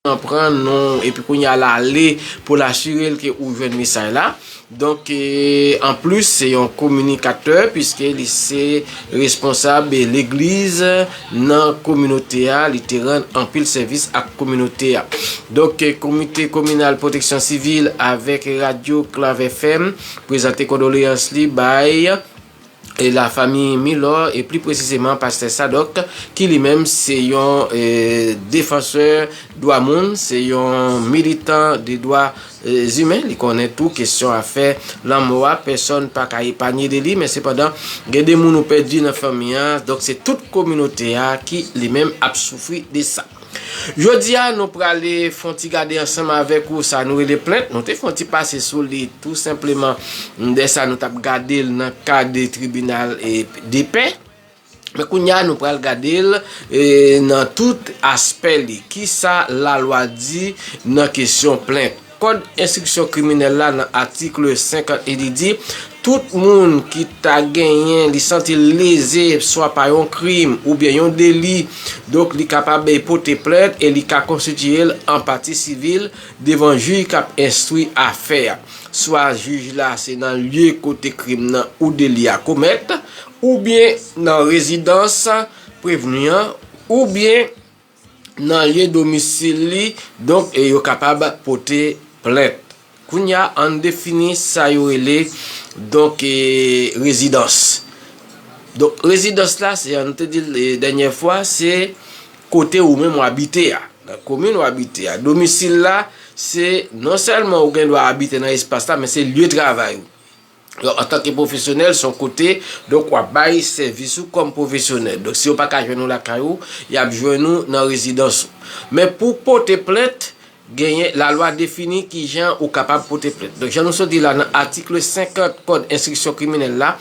nan pran non epi kounye a l ale pou l asire l ke ou jwenn mesaj la donk anplis se yon kominikatè piske li se responsab legliz nan kominote a li te rann anpil sèvis ak kominote a donk komite kominal pwoteksyon sivil avèk radyo klav fm prezante kondoleyans li bay. e la fami Milor e pli presizeman pastè Sadok ki li menm se yon defansè dwa moun, se yon militan de dwa zimen, li konnen tou kesyon a fè lanmò a pèsòn pa ka epanye de li men sepandan gen de moun ou pèdi nan fanmi an, donk se tout kominote a ki li menm ap soufri de sa. Jodia nou prale fon ti gade ansanm avèk ou sa nou rele plent, nou te fon ti pase sou li tou senpleman de sa nou tap gade l nan ka de tribinal e de pè. Men kounya nou pral gade l e nan tout aspè li. Kisa la lwa di nan kesyon plent? Kòd enstriksyon kriminèl la nan atikl 50 e li di, Tout moun ki ta genyen, li santi l leze swa pa yon krim oubyen yon deli, donk li kapab pote plent e li ka konstitiye l an pati sivil devan jij k ap enstwi afè a, swa jij la se nan lye kote krim nan ou deli a komèt, oubyen nan rezidans prevni an, oubyen. nan lye domisil li donk yo kapab pote plent. Kounya an defini sa yo rele donk rezidans. Donk rezidans la se an te dil dènyè fwa se kote ou menm w abite a. Nan komin w abite a. Domisil la se non sèlman ou gen dwa abite nan espas la men se lye travay ou. Donk antanke pwofesyonèl son kote, donk wap bay sèvis ou kòm pwofesyonèl. Donk si yo pa ka jwenn ou lakay ou, yap jwenn ou nan rezidans ou. Men pou pote plent, genyen lalwa defini ki jan ou kapab pote plent. Donk jan nou sot di la nan atikl 50 kòd enstriksyon kriminèl la,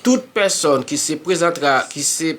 tout pèsòn ki se prezantra, ki se.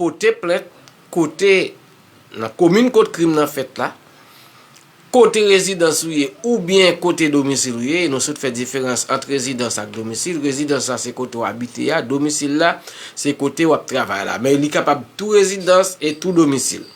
pote plent kote nan komin kot krim nan fèt la, kote rezidans ou ye oubyen kote domisil ou ye, e nou sot fè diferans ant rezidans ak domisil, rezidans la se kote w abite a, domisil la se kote w ap travay la, men li kapab tou rezidans e tou domisil.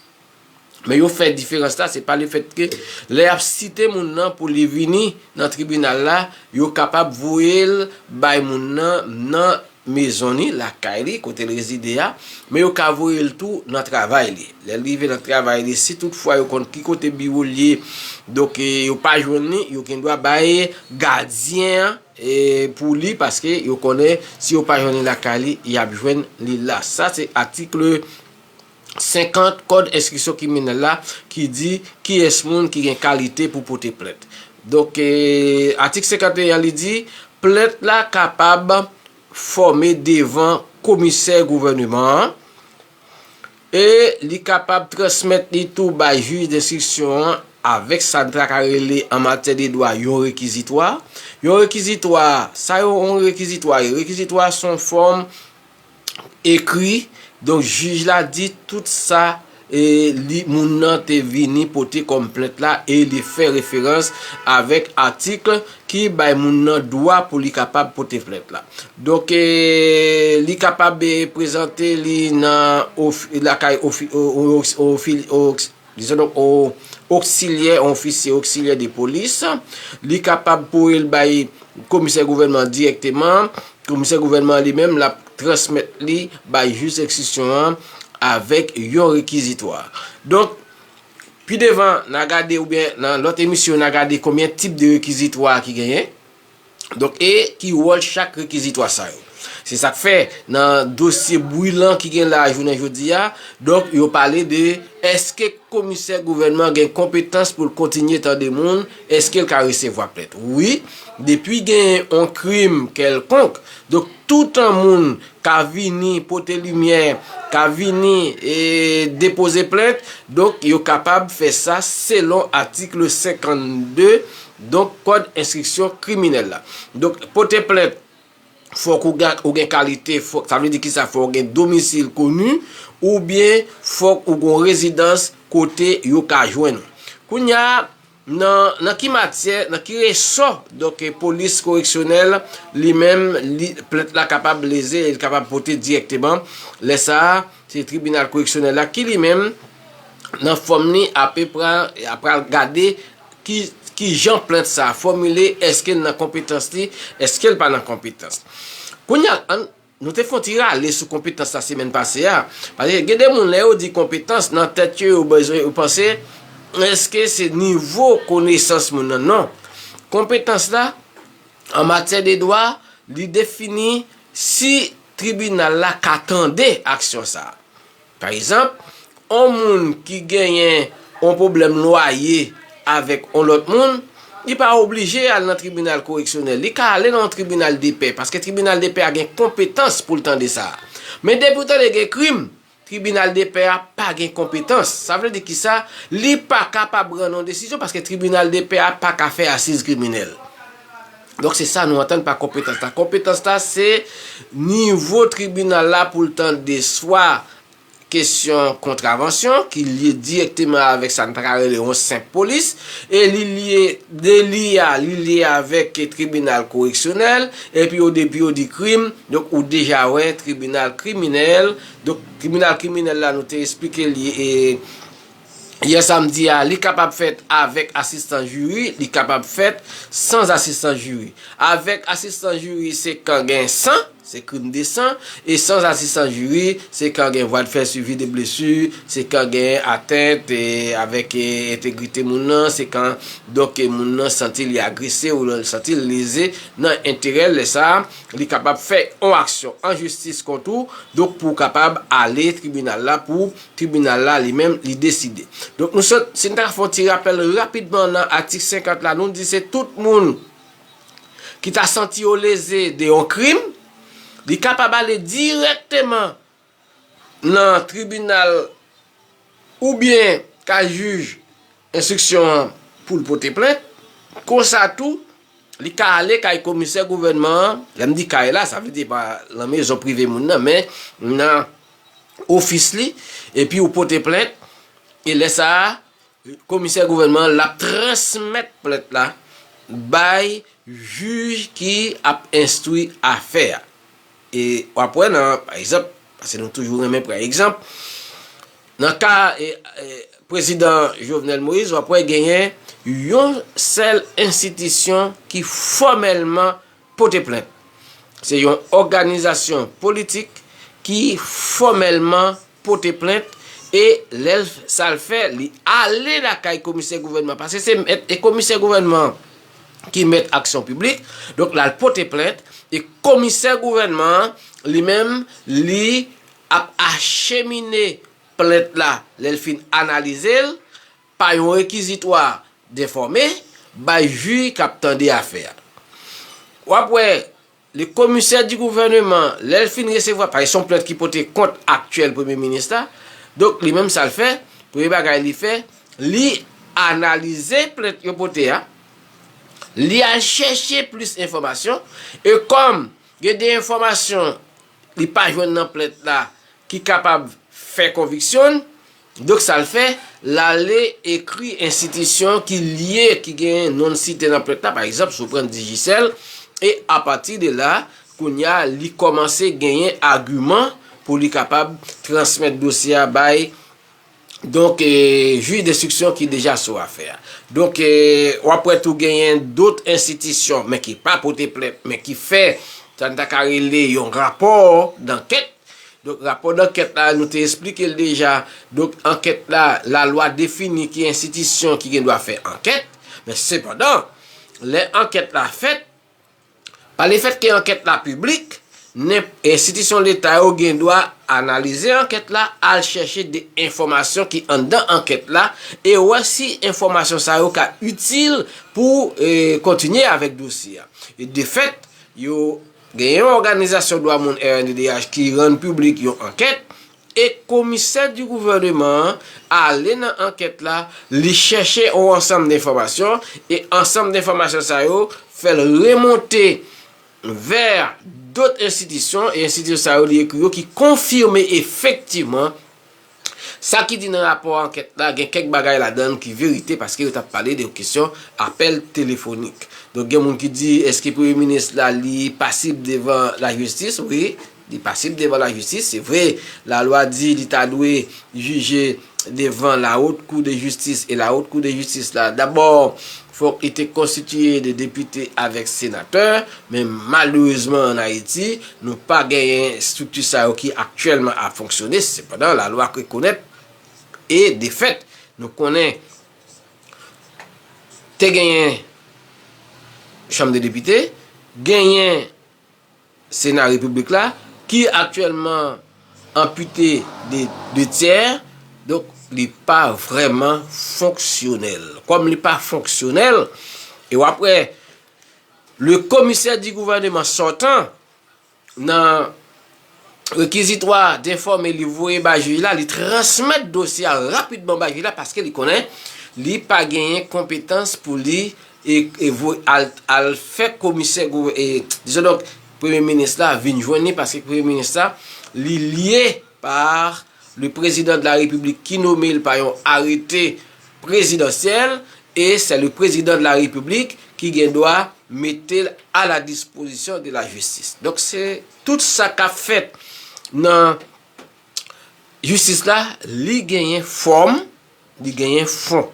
Men yo fè diferans la, se pa le fèt ke lè yap site moun nan pou li vini nan tribinal la, yo kapab voye l bay moun nan nan mezon ni, lakay li, kote l rezide a, men yo ka voye l tou nan travay li. Lè l rive nan travay li, si tout fwa yo konn ki kote biwo l ye, donk yo pa jwenn li, yo gen dwa bay gadyen an pou li, paske yo konnen si yo pa jwenn li lakay li, yap jwenn li la. Sa se atikle. 50, Kòd enstriksyon kriminèl la ki di kiyès moun ki gen kalite pou pote plent. Donk, atik 51 an li di, plent la kapab fòme devan komisè gouvèneman an e li kapab transmèt li tou bay jij denstriksyon an avèk sa ta ka rele an matyè de dwa yon rekizitwa. Yon rekizitwa, sa yon rekizitwa ye? Rekizitwa son fòm Ekri, Donk jij la di tout sa li, moun nan, te vini pote kòm plent la e li fè referans avèk atik ki bay moun nan dwa pou li kapab pote plent la. Donk, li kapab prezante li nan lakay yon Dizon donk on oksilyè, on ofisye oksilyè de polis. Li kapab pou el bay komisè gouvènman an dirèkteman. Komisè gouvènman an li menm l ap transmèt li bay jij enstriksyon an avèk yon rekizitwa. Donk, pi devan, n a gade oubyen nan lòt emisyon, n a gade konbyen tip de rekizitwa ki genyen. Donk e ki wòl chak rekizitwa sa yo? Se sa k fè, nan dosye bwilan ki gen la a jounen jodi a, donk yo pale de èske komisè gouvènman gen konpetans pou l kontinye tande moun, èske l ka resevwa plent? Wi, depi genyen yon krim kèlkonk, donk toutan moun ka vini pote limyè, ka vini depoze plent, donk yo kapab fè sa selon atik 52. Donk kòd enstriksyon kriminèl la. Donk pote plent fòk ou gen ou gen kalite fòk sa vle di kisa fòk ou gen domisil koni oubyen fòk ou gon rezidans kote yo ka jwenn ou. Kounya nan nan ki matyè nan ki resò donk polis koreksyonèl li menm li plent la kapab leze e li kapab pote dirèkteman lè sa a se tribinal koreksyonèl la ki li menm nan fòm li ape pran pral gade Kijan plent sa fòmile, èske l nan konpetans li, èske l pa nan konpetans. Kounye a, an, nou te fè yon ti rale sou konpetans la semèn pase a, paske gen de moun lè yo di konpetans nan tèt yo yo bezwen yo panse èske se nivo konesans moun nan, non. Konpetans la an matyè de dwa li defini si tribinal la ka tande aksyon sa. Pa ezanp, on moun ki genyen on pwoblèm lwaye avèk on lòt moun, li pa oblije al nan tribinal koreksyonèl, li ka ale nan on tribinal depè, paske tribinal depè a gen konpetans pou l tande sa. Men depi ou tande gen krim, tribinal depè a pa gen konpetans. Sa vle di kisa? Li pa kapab rann on desizyon paske tribinal depè a pa ka fè asiz kriminèl. Donk se sa nou antann pa konpetans la. Konpetans la se nivo tribinal la pou l tande swa kesyon kontravansyon ki lye dirèkteman avèk sa n ta ka rele yon senp polis, e li lye deli a, li lye avèk tribinal koreksyonèl, epi yo depi yo di krim, donk ou deja wè tribinal kriminèl, donk tribinal kriminèl la nou te esplike li e. Yè samdi a, li kapab fèt avèk asistans jiri, li kapab fèt sans asistans jiri. Avèk asistans jiri se kan gen san, se krim de san, e sans asistans jiri se kan gen vwa de fè swivi de blesu, se kan gen atent avèk entegrite moun nan, se kan donk moun nan santi li agrese ou li santi li leze nan enterè l, lè sa a, li kapab fè yon aksyon an jistis kont ou, donk pou w kapab ale tribinal la pou Tribinal la li menm li deside. Donk nou sot, si n ta fè yon ti rapèl rapidman nan atik 50 la, nou di se tout moun ki ta santi yo leze de yon krim, li kapab ale dirèkteman nan tribinal oubyen kay jij Enstriksyon an pou l pote plent. Konsa tou, li ka ale kay komisè gouvènman an, lè m di kay la, sa vle di pa lan mezon prive moun nan, men nan ofis li, epi ou pote plent, e lè sa a, komisè gouvènman an l ap transmèt plent la bay jij ki ap enstwi afè a. E wap wè nan, pa egzanp, pase nou toujou renmen pran egzanp, nan ka prezidan Jovenel Moïse, wap wè genyen yon sèl enstitisyon ki fòmèlman pote plent. Se yon òganizasyon politik ki fòmèlman. pote plent e lèl sal fè li ale lakay komisè gouvènman paske se mèt e komisè gouvènman ki mèt aksyon piblik donk lal pote plent e komisè gouvènman an li menm li ap achemine plent la lèl fin analizel pa yon rekizitwa denfòme bay jui kap tande afè a wap wè Le commissaire du gouvernement lèl fin resevwa paske son plent ki pote kont aktyèl premye minis la donk li menm sal fè premye bagay li fè li analize plent yo pote a li al chèche plis enfòmasyon e kòm gen de enfòmasyon li pa jwenn nan plent la ki kapab fè konviksyonn. Donk sa l fè, l ale ekri enstitisyon ki lye, ki gen non l site nan plent la, pa egzanp, si w pran Digicel, e apati de la, kounye a, li kòmanse genyen agiman pou li kapab transmèt dosye a bay, donk, jij denstriksyon ki deja sou afè a. Donk, w ap wè tou genyen dot enstitisyon, men ki pa pote plent, men ki fè sa n ta ka rele yon rapò dankèt. Donk rapò dankèt la nou te esplike l deja, donk ankèt la, lalwa defini ki enstitisyon ki gen dwa fè ankèt, men sepandan lè ankèt la fèt, pa le fèt ke ankèt la piblik, nenp, enstitisyon leta yo gen dwa analize ankèt la, al chèche de enfòmasyon ki anndan ankèt la e wè si enfòmasyon sa yo ka itil pou kontinye avèk dosye a. E de fèt, yo. Gen yon òganizasyon dwa moun rnddh ki rann piblik yon ankèt e komisè di gouvèneman an ale nan ankèt la li chèche yon ansanm denfòmasyon e ansanm denfòmasyon sa yo fè l remonte vè dot enstitisyon e enstitisyon sa yo li ekri yo ki konfime efektivman Sa ki di nan rapò ankèt la gen kèk bagay ladan l ki verite paske yo t ap pale de yon kesyon apèl telefonik. Donk gen moun ki di èske premye minis la li pasib devan lajistis? Wi, li pasib devan lajistis. Se vre lalwa di li ta dwe jije devan la Haute Cour de Justice e la Haute Cour de Justice la dabò Fòk li te konstitiye de depite avèk senatè, men malerezman an Ayiti, nou pa genyen estrikti sa yo ki aktyèlman ap fonksyone, sepandan lalwa rekonèt e de fèt nou konnen te genyen chanm de depite, genyen. Sena Repiblik la, ki aktyèlman anpite de 2 tyè, donk li pa vrèman fonksyonèl. Kòm li pa fonksyonèl, e w ap wè le Commissaire du Gouvernement sortant nan rekizitwa denfòme li voye bay jij la, li transmèt dosye a rapidman bay jij la paske li konnen li pa genyen konpetans pou li E voye al fè komisè disons donc premye minis la vin jwenn li paske premye minis la li lye par le prezidan de la repiblik ki nome l pa yon arete prezidansyèl e sè le prezidan de la repiblik ki gen dwa mete l a la dispozisyon de la jistis donk se tout sa k ap fèt nan jistis la li genyen fòm Li genyen fon.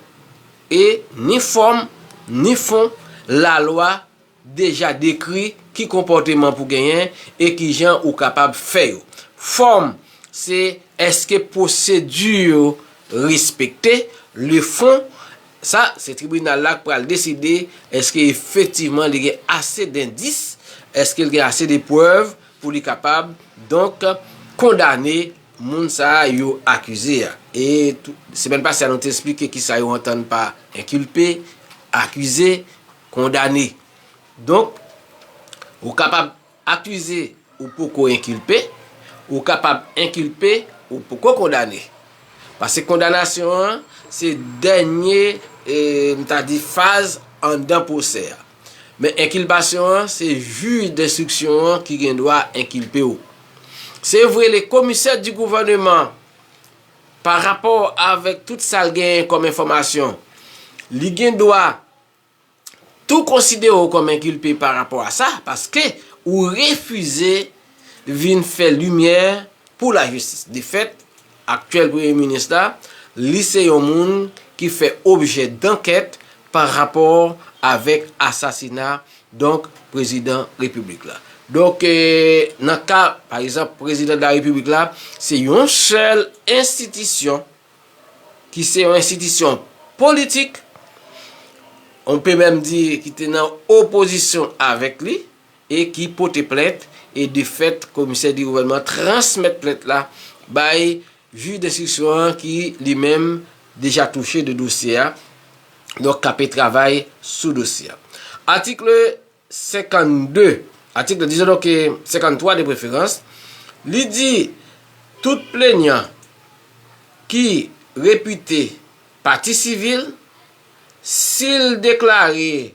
E ni fòm, ni fon, lalwa deja dekri ki konpòteman pou genyen e ki jan ou kapab fè yo. Fòm, se èske pwosedi yo respekte. Le fon, sa, se tribinal la k pral deside èske efektivman li gen ase dendis, èske l gen ase de prèv pou li kapab donk kondane moun sa a yo akize a. E semèn pase a nou te esplike ki sa yo antann pa enkilpe, akize, kondane. Donk, ou kapab akize ou poko enkilpe, ou kapab enkilpe ou poko kondane. Pase kondanasyon an se dènye, m ta di, faz anndan pwosè a. Men enkilpasyon an se jij denstriksyon an ki gen dwa enkilpe w. Se vre le komisè di gouvèneman pa rapò avèk tout sa l genyen kòm enfòmasyon li gen dwa tou konsidere w kòm enkilpe pa rapò a sa paske ou refize vin fè limyè pou lajistis. De fèt. Aktyèl premye minis la, li se yon moun ki fè objè dankèt pa rapò avèk asasina donk prezidan repiblik la. Donk nan ka pa egzanp prezidan de la repiblik la, se yon sèl enstitisyon ki se yon enstitisyon politik, on pe menm di ki te nan opozisyon avèk li, e ki pote plent e de fèt komisè di gouvènman transmèt plent la bay jij denstriksyon an ki li menm deja touche de dosye a donk kape travay sou dosye a atikle 52 atikle dizon donk 53 de preferans li di tout plenyan ki repite pati sivil si l deklare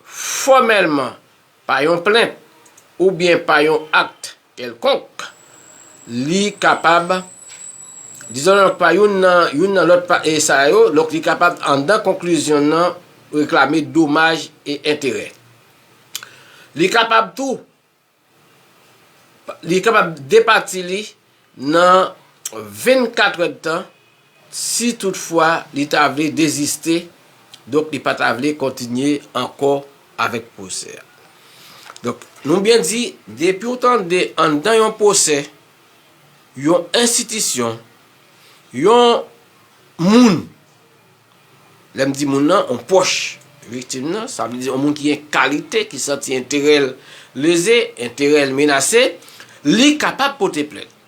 fòmèlman pa yon plent oubyen pa yon akt kèlkonk, li kapab, dizon nan pa youn nan youn nan lòt pa e sa yo, donk li kapab anndan konklizyon nan reklame domaj e enterè. Li kapab tou, Li kapab depati li nan 24 èdtan si tout fwa li ta vle deziste, donk li pa ta vle kontinye ankò avèk pwosè a. Donk nou byen di, depi ou tande anndan yon pwosè, yon enstitisyon, yon moun Lè m di moun nan, on pwòch viktim nan, sa vle di on moun ki gen kalite, ki santi enterè l leze, enterè l menase, li kapab pote plent.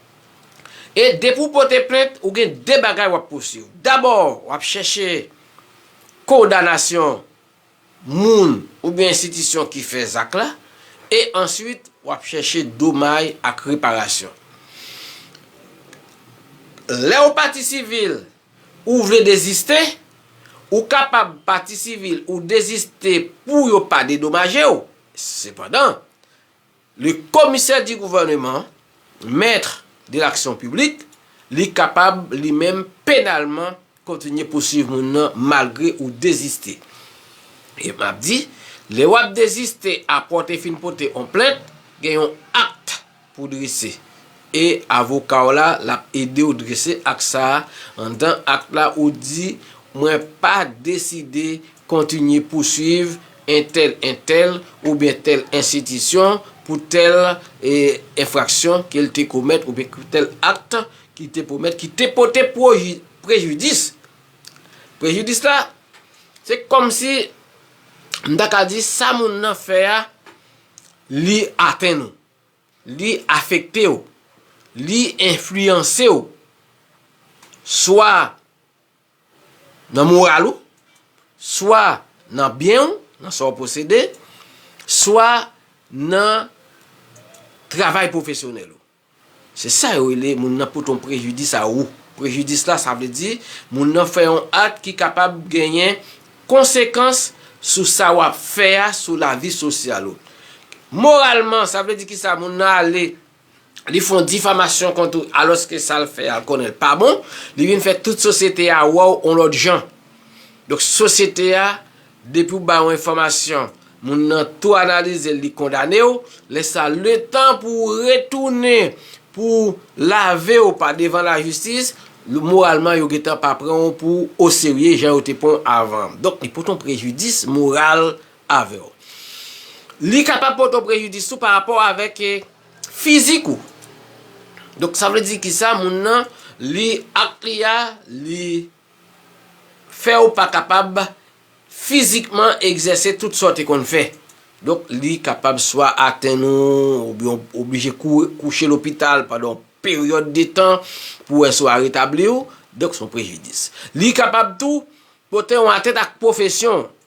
E depi ou pote plent, ou gen 2 bagay w ap pousuiv. Dabò, w ap chèche kondanasyon moun oubyen enstitisyon ki fè zak la, e answit w ap chèche domay ak reparasyon. Lè w pati sivil, Ou vle deziste? Ou kapab pati sivil ou deziste pou yo pa dedomaje w. Sepandan, le Commissaire du Gouvernement, Maître de l'Action Publique, li kapab li menm penalman kontinye pouswiv moun nan malgre ou deziste. E m ap di, lè w ap deziste apre w te fin pote on plent, gen yon act. Pou drese. E avoka w la, l ap ede w drese akt sa a. Anndan akt la, ou di, Mwen pa deside kontinye pouswiv entèl entèl oubyen tèl enstitisyon pou tèl enfraksyon ke l te komèt oubyen pou tèl akt ki te komèt ki te pote prejidis. Prejidis la, se kòmsi m ta ka di sa moun nan fè a li atenn ou. Li afekte w. Li enfliyanse w. Swa nan moral ou, swa nan byen ou, nan sa w posede, swa nan travay pwofesyonèl ou. Se sa yo rele moun nan pote yon prejidis a ou. Prejidis la sa vle di moun nan fè yon ak ki kapab genyen Konsekans sou sa wap fè a sou lavi sosyal ou. Moralman, sa vle di ki sa, moun nan ale, li fon difamasyon kont ou, alòske sa l fè a, l konnen l pa bon, li vin fè tout sosyete a wè w on lòt jan. Donk sosyete a, depi w bay on enfòmasyon, Moun nan tou analizel li kondanew, lè sa letan pou ou retounen pou ou lavew pa devan la jistis, moralman yo gentan pa pranw pou o serye jan yo te pranw avan. Donk li pot on prejidis moral avèw. Li kapab pot on prejidis tou pa rapò avèk fizik ou. Donk sa vle di ki sa moun nan li ak li a li. fè w pa kapab fizikman egzèse tout sa w te konn fè. Donk, li kapab swa atenn ou, oubyen w oblije kouri kouche lopital pandan yon peryòd de tan pou wè si w a retabli w. Donk, se yon prejidis. Li kapab tou pote yon atènt ak pwofesyon w.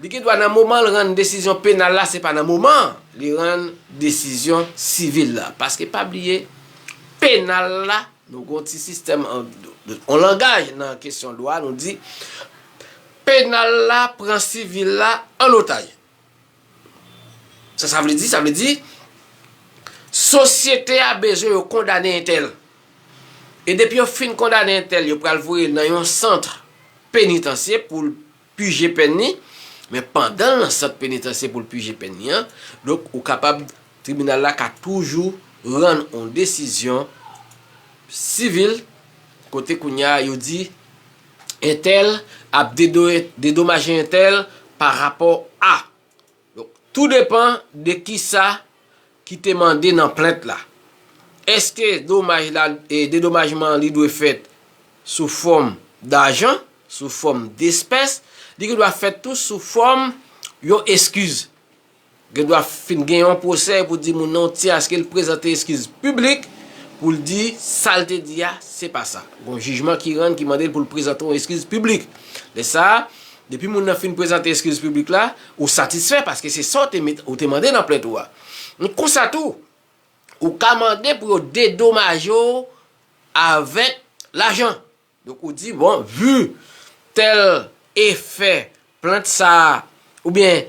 Li gen dwa nan moman l rann desizyon penal la se pa nan moman li rann desizyon sivil la. Paske pa bliye penal la nou gen yon ti sistèm yon langaj nan kesyon dwa nou di penal la pran sivil la an otaj. Sa sa vle di? Sa vle di sosyete a bezwen yo kondane entèl. E depi yo fin kondane entèl yo pral voye l nan yon sant penitansye pou l pije pèn li, men pandan l nan sant penitansye pou l pije pèn li an, donk ou kapab, tribinal la ka toujou rann yon desizyon sivil kote kounya yo di entèl ap dedomaje entèl pa rapò a. Donk, tou depan de kisa ki te mande nan plent la. Eske domaj la, dedomajman an li dwe fèt sou fòm dajan, sou fòm despès, li gen dwa fèt tou sou fòm yon eskiz. Gen dwa fin gen yon pwosè pou di moun nan w ti aske l prezante eskiz piblik pou l di sa l te di a se pa sa. Gon jijman ki rann ki mande l pou l prezante yon eskiz piblik. Lè sa a, Depi moun nan fin prezante eskiz piblik la, ou satisfè paske se sa ou te mande nan plent ou a. Konsa tou, ou ka mande pou yo dedomaje w avèk lajan. Donk ou di, bon, vi tèl efè plent sa a, oubyen,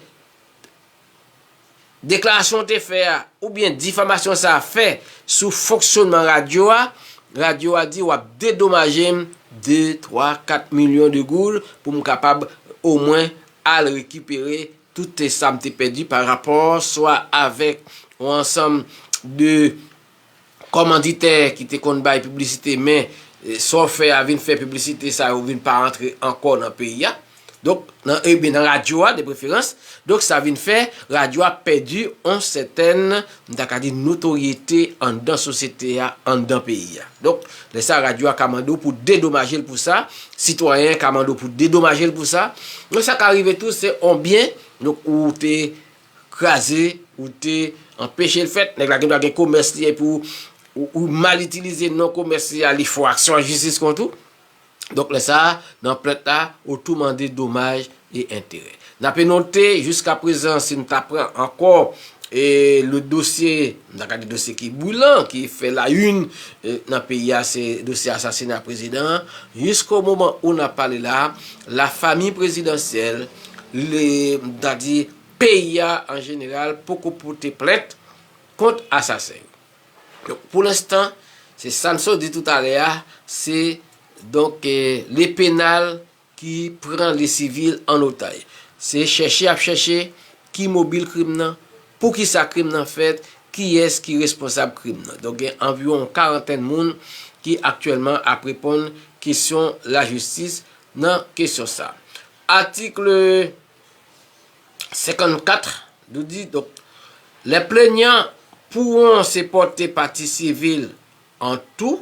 Deklarasyon ou te fè a, oubyen difamasyon sa a fè sou fonksyonman radyo a, radyo a di w ap dedomaje m de, twa, kat milyon de goud pou m kapab omwen al rekipere tout sa m te pèdi pa rapò swa avèk yon ansanm de kòmanditè ki te konn bay piblisite men sa w fè a vin fè piblisite sa yo vin pa antre ankò nan peyi a donk ebyen nan radyo a depreferans donk sa vin fè radyo a pèdi yon sètèn m ta ka di notoryete anndan sosyete a anndan peyi a donk lè sa radyo a ka mande w pou dedomaje l pou sa sitwayen ka mande w pou dedomaje l pou sa donk sa ka rive tou se yon byen donk ou te kraze ou te anpeche l fèt, nèg la gen dwa gen komès li epi ou mal itilize non komès li a li fè w aksyon an jistis kont ou, donk lè sa a nan plent la ou tou mande domaj e enterè. N ape note jiskaprezan si nou ta pran ankò e le dosye. Nou ta ka di dosye ki bwilan, ki fè la yn nan peyi a se dosye asasina prezidan an. Jisko moman ou nap pale la, la famiy prezidansyèl, le m ta di peyi a an jeneral poko pote plent kont asasen yo. Donk pou lenstan, se Samson di toutalè a, se donk le penal. ki pran li sivil an otay. Se chèche y ap chèche ki mobil krim nan, pou ki sa krim nan fèt, kiyès ki responsab krim nan. Donk gen anviwon yon karantèn moun ki aktyèlman ap reponn kesyon lajistis nan kesyon sa. Atikl 54 nou di, donk, lè plenyan pouwon se pòte pati sivil an tou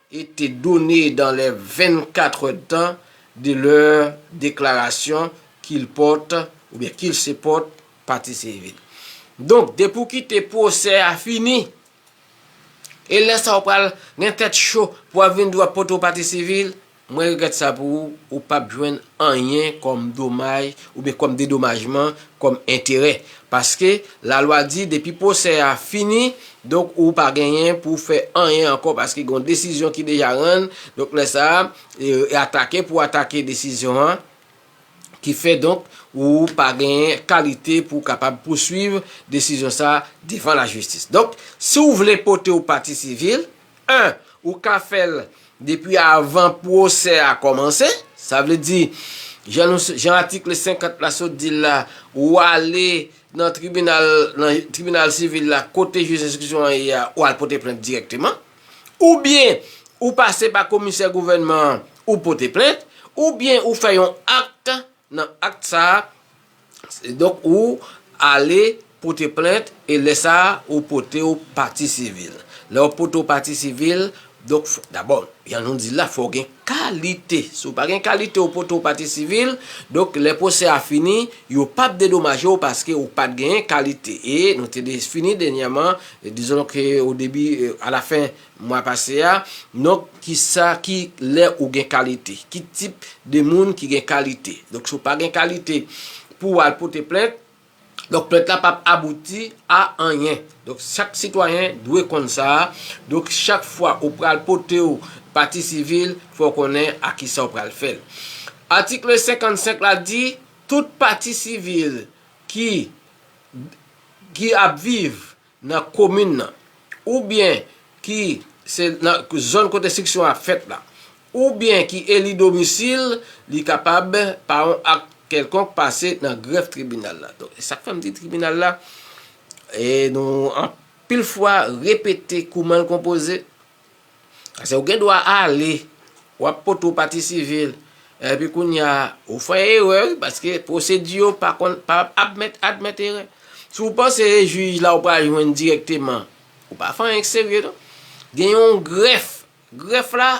été donnée dans les 24 heures de temps de leur déclaration qu'ils portent oubyen qu'ils se portent partie civile. Donk, depi ou kite pwosè a fini, e lè sa ou pral gen tèt cho pou w ap vin di w ap pote w pati sivil, mwen regrèt sa pou ou, ou p ap jwenn anyen kòm domaj oubyen kòm dedomajman, kòm enterè. Paske lalwa di depi pwosè a fini, donk ou pa genyen pou w fè anyen ankò paske gen yon desizyon ki deja rann, donk lè sa a, e atake pou w atake desizyon an, ki fè donk ou pa genyen kalite pou w kapab pouswiv desizyon sa a devan lajistis. Donk, si w vle pote yon pati sivil, 1, Ou ka fè l depi avan pwosè a kòmanse. Sa vle di, jan nou, jan atikl 50 la sot di l la, ou ale nan tribinal, nan tribinal sivil la, kote jij enstriksyon an ye a, ou al pote plent dirèkteman. Oubyen, ou pase pa komisè gouvènman an, ou pote plent. Oubyen, ou fè yon akt, nan akt sa a. Donk ou ale pote plent e lè sa a ou pote ou pati sivil. Lè ou pote ou pati sivil, donk dabò jan nou di l la fò w gen kalite. Si ou pa gen kalite ou pote ou pati sivil, donk lè pwosè a fini yo p ap dedomaje ou paske ou pa t genyen kalite. E nou te fini dènyèman, dizon ke o debi, a la fen Mwa pase a, donk kisa ki lè ou gen kalite, ki tip de moun ki gen kalite. Donk si w pa gen kalite pou w al pote plent, donk plent la pap abouti a anyen. Donk chak sitwayen dwe konn sa, donk chak fwa ou pral pote w pati sivil fò w konnen a kisa w pral fè l. Atikle 55 la di tout pati sivil ki ki ap viv nan komin nan oubyen ki se nan zòn kote enstriksyon a fèt la oubyen ki eli domisil li kapab pa yon ak kèlkonk pase nan grèf tribinal la. Donk e sak fè m di tribinal la e nou anpil fwa repete kouman l konpoze Ase ou gen dwa ale, w ap pote yon pati sivil, epi kounye a, ou fè erè wi, paske pwosedi yo pa konn, pa admèt, admèt erè. Si w panse e jij la ou pral jwenn dirèkteman, ou pa fè anyen ki serye non. Gen yon grèf, grèf la,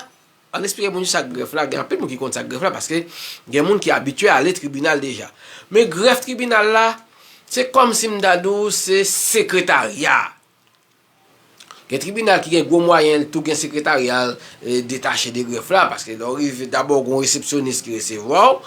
an n esplike moun ki sa k grèf la, gen anpil moun ki konn sa k grèf la, paske gen moun ki abitye ale tribinal deja. Men grèf tribinal la, se kòm si m ta di w se sekretarya. Gen tribinal ki gen gwo mwayen l tou gen sekretarya detache de grèf la, paske lè w rive dabò gon resepsyonis ki resevwa w,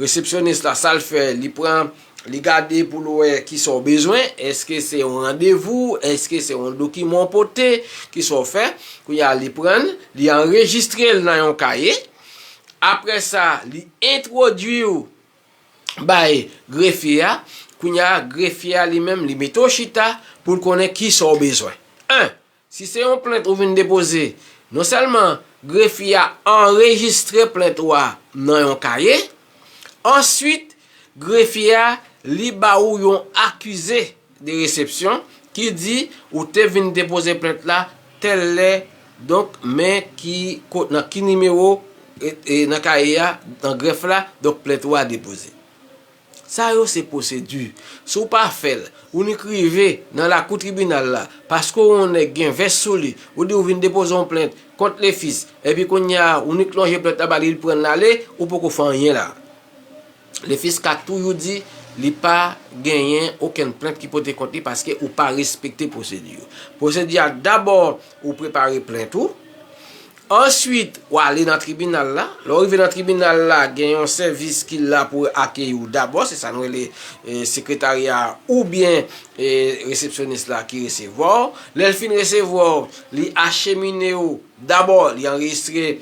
resepsyonis la sa l fè li pran li gade pou l wè kisa w bezwen, èske se yon randevou, èske se yon dokiman w pote, kisa w fè, kounye a li pran l, li anrejistre l nan yon kaye, aprè sa li entwodui w. bay grefye a, kounye a grefye a li menm li mete w chita pou l konnen ki sa w bezwen. 1, Si se yon plent ou vin depoze, non sèlman grefye a anrejistre plent ou a nan yon kaye, answit grefye a li ba ou yon akize de resepsyon, ki di ou te vin depoze plent la tèl lè, donk men ki ko nan ki nimewo e nan kaye a nan grèf la, donk plent ou a depoze. Sa yo se pwosedi. Si w pa fè l, ou nik rive nan lakou tribinal la paske w on nèg gen vès sou li, ou di ou vin depoze on plent kont Lefis, epi kounye a ou nik lonje plent la ba li, li pran l ale, ou poko fè anyen la. Le Fisc ka toujou di li pa genyen okenn plent ki pote kont li paske ou pa respekte pwosedi yo. Pwosedi a dabò ou prepare plent ou, answit ou ale nan tribinal la, lè ou rive nan tribinal la gen yon sèvis ki la pou akeyi ou dabò, se sa nou rele sekretarya a oubyen resepsyonis la ki resevwa ou, lè l fin resevwa ou li achemine ou, dabò li anrejistre.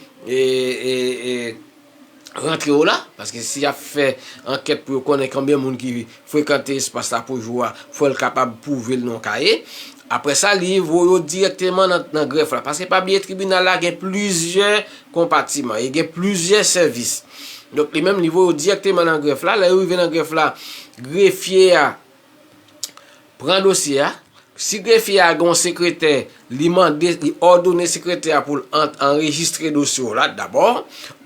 rantre yo la, paske si yap fè ankèt pou yo konnen konbyen moun ki frekante espas la pou jou a, fò l kapab pwouve l nan yon kaye. Aprè sa li voye yo dirèkteman nan grèf la. Paske pa bliye tribinal la gen plizyè konpatiman, e gen plizyè sèvis. Donk li menm li voye yo dirèkteman nan grèf la, lè yo rive nan grèf la, grefye a Pran dosye a. Si grefye a gen yon sekretè, li mande, li òdone sekretè a pou l anrejistre dosye w la dabò.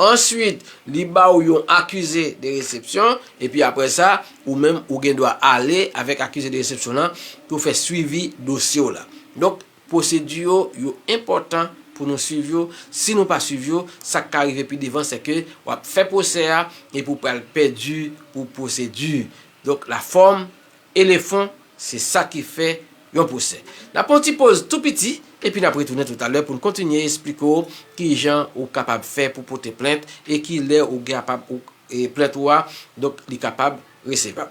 Answit, li ba ou yon akize de resepsyon. Epi apre sa, ou menm ou gen dwa ale avèk akize de resepsyon lan pou fè swivi dosye w la. Donk, pwosedi yo, yo enpòtan pou nou swiv yo. Si nou pa swiv yo, sa k ka rive pi devan se ke w ap fè pwosè a epi ou pral pèdi pou pwosedi. Donk lafòm e le fon se sa ki fè yon pwosè. N ap pran yon ti poz tou piti epi n ap retounen toutalè pou n kontinye esplike w ki jan ou kapab fè pou pote plent e ki lè ou kapab plent ou a donk li kapab resevab.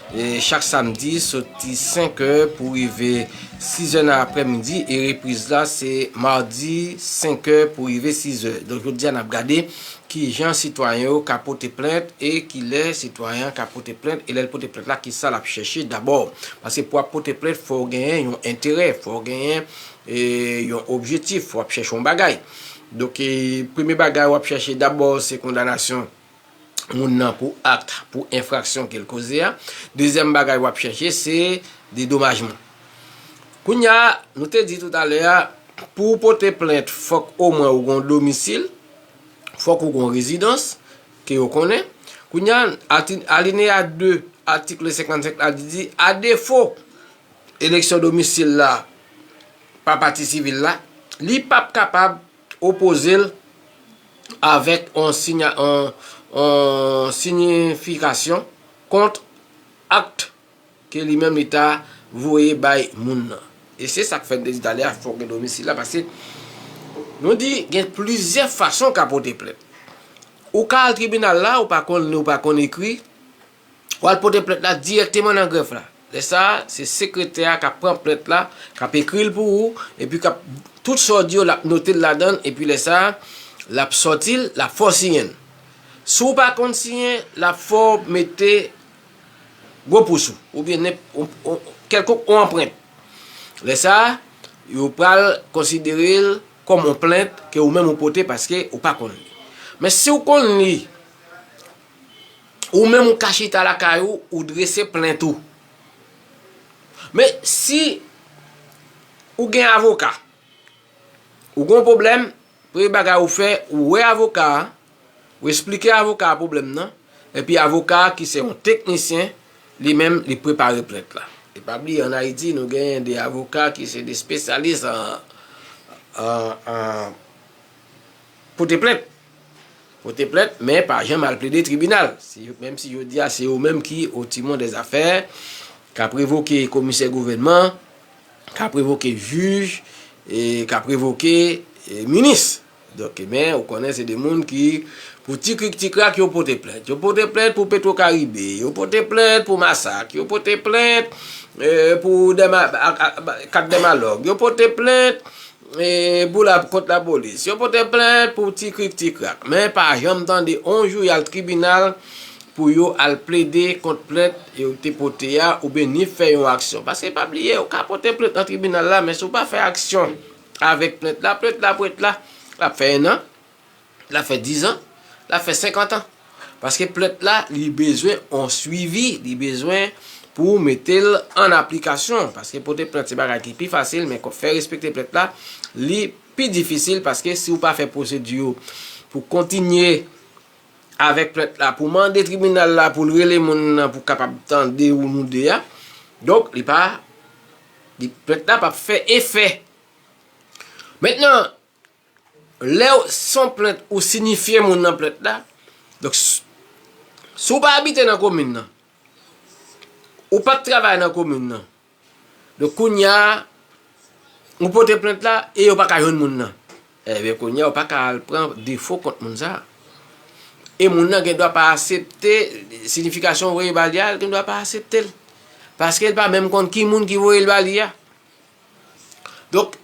Chak samdi soti 5 è pou rive 6 è nan aprè midi e repriz la se madi 5 è pou rive 6 è. Donk jodi a n ap gade kijan sitwayen yo ka pote plent e kilè sitwayen an ka pote plent e lè l pote plent la kisa l ap chèche dabò. Paske pou w ap pote plent fò w genyen yon enterè, fò w genyen yon objetif, w ap chèche yon bagay. Donk premye bagay w ap chèche dabò se kondanasyon. moun nan pou akt, pou enfraksyon ke l koze a. Dezyèm bagay w ap chèche se dedomajman. Kounye a, nou te di tout alè a, pou ou pote plent fòk omwen ou gon domisil, fòk ou gon rezidans ke yo konnen. Kounye a, alineya 2 atikl 55 la di di, a defo eleksyon domisil la pa pati sivil la, li p ap kapab. Opoze l avèk yon siyifikasyon kont akt ke li menm li ta voye bay moun nan. E se sa k fè m te di talè a fòk gen domisil la paske nou di gen plizyè fason w ka pote plent. Ou ka al tribinal la ou pa konn li ou pa konn ekri. Ou al pote plent la dirèkteman nan grèf la. Lè sa a, se sekretè a k ap pran plent la, k ap ekri l pou ou, epi k ap, tout sa w di yo, l ap note l ladan l, epi lè sa a, l ap sòti l, l ap fè w siyen l. Si w pa konn siyen, l ap fè w mete gwo pous ou, oubyen nenp, yon, kèlkonk yon anprent. Lè sa a, yo pral konsidere l kòm yon plent ke ou menm ou pote paske ou pa konn li. Men si w konn li, Ou menm ou ka chita lakay ou, ou drese plent ou. Men, si ou gen avoka, ou gen yon pwoblèm, premye bagay ou fè, ou wè avoka a, ou esplike avoka a pwoblèm nan, epi avoka a ki se yon teknisyen, li menm li prepare plent la. E pa bliye an Ayiti nou gen de avoka ki se de spesyalis an pote plent. pote plent men pa janm al plede tribinal, menm si jodi a se yo menm ki o timon dè zafè, k ap revoke komisè gouvènman, k ap revoke jij, k ap revoke minis. Donk men ou konnen se de moun ki pou ti krik ti krak yo pote plent. Yo pote plent pou petro karibe, yo pote plent pou masak, yo pote plent pou 4 dèmalòg, yo pote plent. Pou lap kont la polis. Yo pote plent pou ti krik ti krak. Men pa janm tande on jou yal tribinal pou yo al plede kont plent yo te pote a oubyen ni fè yon aksyon. Paske pa bliye ou ka pote plent nan tribinal la men si ou pa fè aksyon avèk plent la, plent la pou ret la, lap fè 1 an. Lap fè 10 ans, lap fè 50 ans. Paske plent la li bezwen on swivi, li bezwen pou ou mete l an aplikasyon. Paske pote plent se bagay ki pi fasil, men fè respekte plent la, li pi difisil. Paske si ou pa fè pwosedi yo pou kontinye avèk plent la, pou mande tribinal la pou l rele moun nan pou kapab tande ou nou 2 a. Donk li pa, plent la pap fè efè. Mentnan. Lèw son plent ou sinifye moun nan plent la donk si ou pa abite nan komin nan ou pap travay nan komin nan donk kounya ou pote plent la e yo paka jwenn moun nan ebyen kounya ou paka al pran defo kont moun sa e moun nan gen dwa pa asepte sinifikasyon ou voye bali a gen dwa pa aseptel paske li pa menm konn ki moun ki voyel bali a Donk,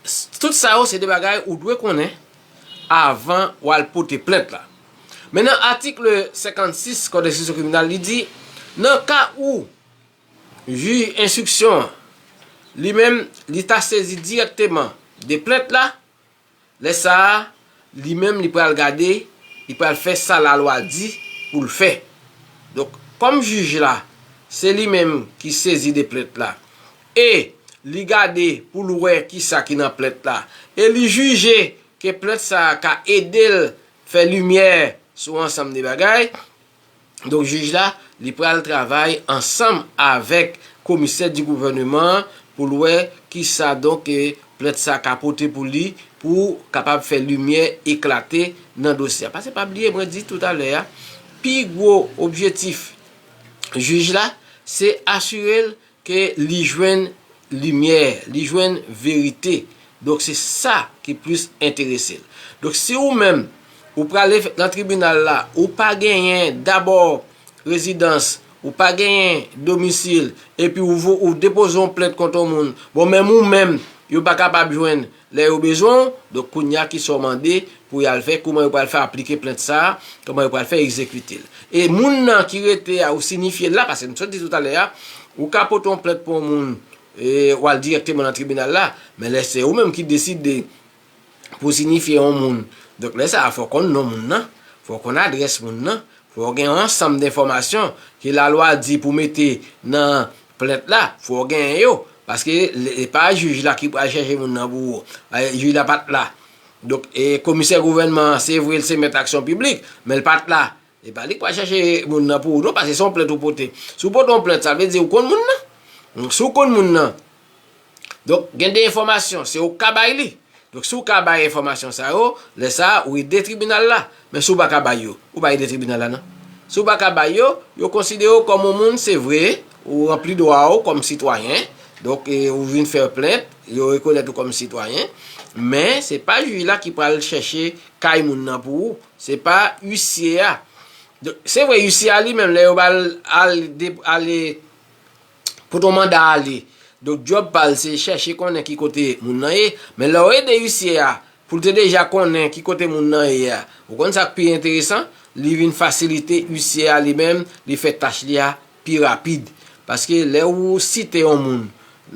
tout sa yo se de bagay ou dwe konnen avan w al pote plent la. Men nan atikl 56 kòd enstriksyon kriminal li di, nan ka ou jij enstriksyon an li menm li ta sezi dirèkteman de plent la, Lè sa a, li menm li pral gade, li pral fè sa lalwa di pou l fè. Donk, kòm jij la, se li menm ki sezi de plent la, e li gade pou l wè ki sa ki nan plent la, e li jije ke plent sa a ka ede l fè limyè sou ansanm de bagay, Donk jij la, li pral travay ansanm avèk komisè di gouvèneman an pou l wè kisa donk plent sa ka pote pou li pou kapab fè limyè eklate nan dosye a. Pase pa bliye mwen di tout alè a, pi gwo objetif jij la se asire l Ke li jwenn limyè, li jwenn verite. Donk se sa ki plis enterese l. Donk si ou menm ou prale nan tribinal la, ou pa genyen dabò rezidans, ou pa genyen domisil, epi ou depoze yon plent kont yon moun, bon menm ou menm yo pa kapab jwenn Lè yo bezwen w, donk kounya ki sa w mande pou y al fè, kouman yo pral fè aplike plent sa a, kouman yo pral fè egzekite l. E moun nan ki rete a ou sinifye l la, pase m sot di toutalè a, ou ka pote yon plent pou yon moun e w al dirèkteman nan tribinal la, men lè se ou menm ki deside pou w sinifye yon moun, donk lè sa a fò w konn non moun nan, fò w konn adrès moun nan, Fò w gen yon ansanm denfòmasyon ke lalwa di pou mete nan plent la, fò w genyen yo. Paske se pa jij la ki pral chèche moun nan pou ou. Jij la pa t la. Donk, komisè gouvènman an, se vre l se mèt aksyon piblik, men l pa t la. Se pa li k pral chèche moun nan pou ou non, paske se yon plent ou pote. Si w pote yon plent, sa vle di ou konn moun nan. Si w konn moun nan, Donk gen de enfòmasyon se ou k ka bay li. Donk si ou ka bay enfòmasyon sa yo, lè sa a ou ede tribinal la. Men si ou pa ka bay yo, ou pa ede tribinal la non. Si ou pa ka bay yo, yo konsidere ou kòm yon moun se vre, ou ranpli dwa ou kòm sitwayen, donk ou vin fè plent, yo rekonèt ou kòm sitwayen, men se pa jij la ki pral chèche kay moun nan pou ou, se pa isye a. Se vre isye a li menm lè yo ba l ale Pou ton manda ale, donk djòb pa l se chèche konnen ki kote moun nan ye, men lè w ede isye a pou l te deja konnen ki kote moun nan ye a, ou konn sa k pi enteresan, li vin fasilite isye a li menm li fè tach li a pi rapid. Paske lè ou site on moun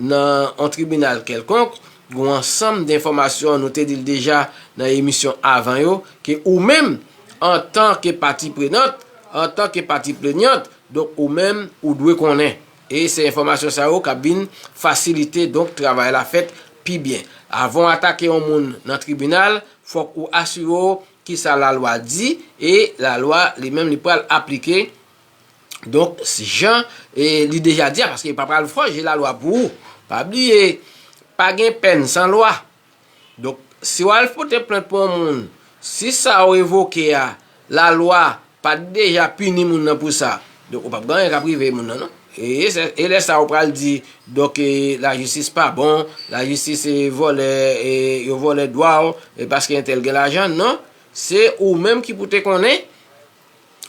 nan on tribinal kèlkonk, gen on ansanm denfòmasyon nou te di l deja nan emisyon avan yo, ke ou menm antan ke pati prenant, antan ke pati plenyant, Donk ou menm ou dwe konnen. E se enfòmasyon sa yo k ap vin fasilite donk travay la fèt pi byen. Avan w atake yon moun nan tribinal, fòk ou asire w ki sa lalwa di e lalwa li menm li pral aplike donk jan li deja di a paske yo pa pral fòje lalwa pou ou. Pa bliye pa gen pèn san lwa. Donk, si w al pote plent pou yon moun, si sa ou evoke a, lalwa pa t deja pini moun nan pou sa, donk ou p ap gen anyen k ap rive moun nan non. E lè sa ou pral di, donk e lajistis pa bon, lajistis e vòlè, e yo vòlè dwa ou, e paske entèl gen lajan, non. Se ou menm ki pou te konnen,